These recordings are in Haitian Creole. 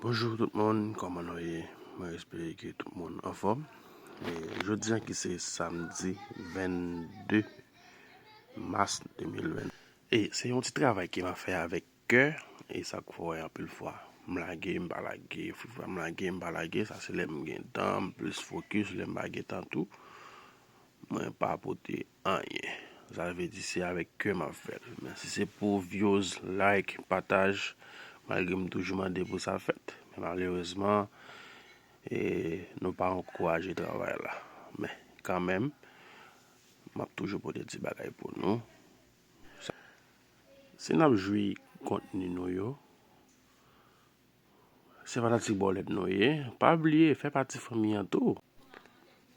Bonjour tout moun kòman nou ye mwen espere ke tout moun anfòm jodi an ki se samdi 22 mas 2020 e se yon ti travay ke map fè avèk kè e sak fè wè anpil fwa m lage m pa lage m lage m pa lage sa se lèm gen tan m plis fokis lèm pa gen tan tou Mwen pa pote anyen. Sa vle di se avèk kè map fèl. Men si se pou vyoz, like, pataj, malgre m toujou mande pou sa fèt. Men malerezman e nou pa ankouraje travay la. Men kanmenm map toujou pote ti bagay pou nou. Si nap jwi kontni nou yo. Se fanatik bòlèt nou ye. Pa bliye fè pati fanmi an tou.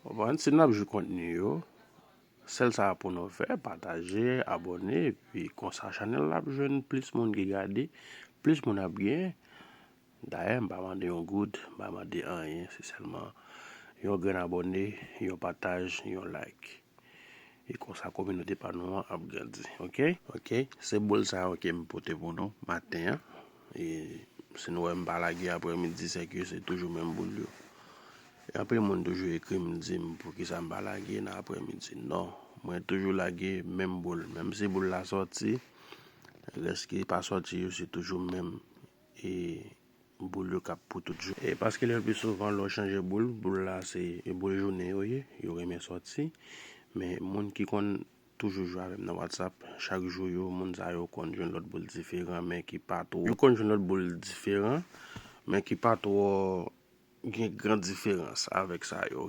Konprann? Si nou ap jwi kontni yo, sèl sa pou nou fè, pataje, abòne, epi konsa chanèl la ap jwenn plis moun ki gade, plis moun ap gen. Dayè m pa mande yon goud, m pa mande anyen, se sèlman yon grenn abòne, yon pataj, yon like. E konsa kominote pa nou an ap grandi ok. Ok se bol sa yo kem pote pou nou maten an e si nou wèm pa lage aprè midi sèke se toujou menm boul yo e anpil moun toujou ekrim dim poukisa m pa lage nan aprè midi non mwen toujou lage menm boul menm si boul la sòti rès ki pa sòti yo se toujou menm e Boul yo kap pou tout jounen. E paske le pli souvan lè w chanje boul, boul la se boul jounen yo ye, yo renmen sòti. Men moun ki konn toujou jwe avè m nan whatsapp, chak jou yo moun sa yo konn jwenn lòt boul diferan men ki pa twò. Yo konn jwenn lòt boul diferan men ki pa twò gen gran diferans avèk sa yo.